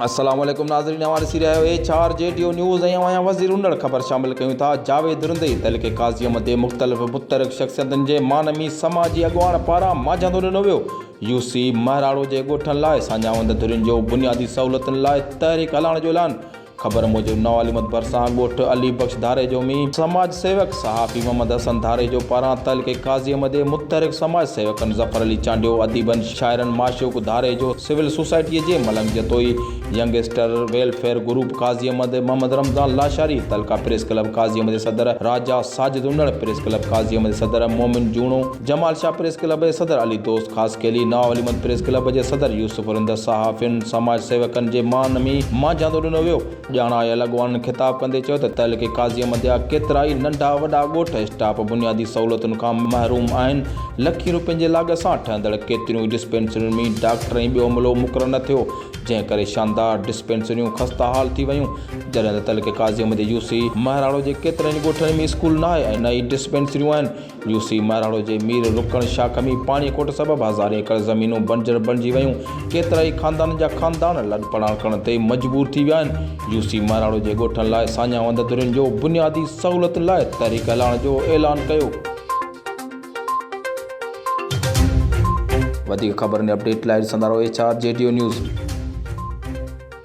السلام عليڪم ناظرين اوهان ڏسي رهيا آهيو H R G Dev news ۽ اوهان وزير اونڙ خبر شامل ڪيون ٿا جاويد رندي تحليق قاضي مدي مختلف متحرڪ شخصيتن جي معنوي سماجي اڳواڻ پاران ماجهندو ڏنو ويو يو سي مهراڙو جي ڳوٺن لاء ساڃاهه وند ڌرين جو بنيادي سهولتن لاء تحريڪ هلائڻ جو اعلان خبر موجب نوعالمت ڀرسان ڳوٺ علي بخش ڌاريجو ۾ سماج سيوڪ صحافي محمد حسن ڌاريجو پاران تعلقي ڪازيم دي متحرڪ سماج سيوڪن ظفر علي چانڊيو، اديبن شاعرن معشوق ڌاريجو، سول سوسائٽي جي Malang Jatoi, youngster welfare group ڪازيم دي، محمد رمضان لاشاري، تعلقه پريس ڪلب ڪازيم دي صدر راجا ساجد انڙ، پريس ڪلب ڪازيم دي صدر مومن جوڻو، جمال شاهه پريس ڪلب جي صدر علي دوست خاصخيلي، نواب علي محمد پريس ڪلب جي صدر يوسف رند، صحافين، سماج سيوڪن جي مان ۾ مانجهاندو ڏنو ويو. ڄاڻايل اڳواڻن خطاب ڪندي چيو ته تعلقي قاضي احمد جا ڪيترائي ننڍا وڏا ڳوٺ اسٽاپ بنيادي سهولتن کان محروم آهن، لکين روپين جي لاڳ سان ٺهندڙ ڪيتريون ئي ڊسپينسرين ۾ ڊاڪٽر ۽ ٻيو عملو مقرر نه ٿيو، جنهن ڪري شاندار ڊسپينسريون خسته حال ٿي ويون، جڏهن ته تعلقي قاضي احمد جي يو سي مهراڙو جي ڪيترن ئي ڳوٺن ۾ اسڪول ناهي ۽ نه ئي ڊسپينسريون آهن. يو سي مهراڻو جي مير رڪڻ شاهه کمي پاڻي کوٽ سبب هزارين ايڪڙ زمينون بنجر بڻجي ويون، ڪيترائي خاندانن جا خاندان لڏپلاڻ ڪرڻ تي مجبور ٿي ويا آهن، يو سي مهراڻو جي ڳوٺن لاء ساڃاهه وند درين جو بنيادي سهولتن لاء تحريڪ هلائڻ جو اعلان ڪيو. وڌيڪ خبرن ۽ اپڊيٽ لاء ڏسندا رهو H R G Dev news.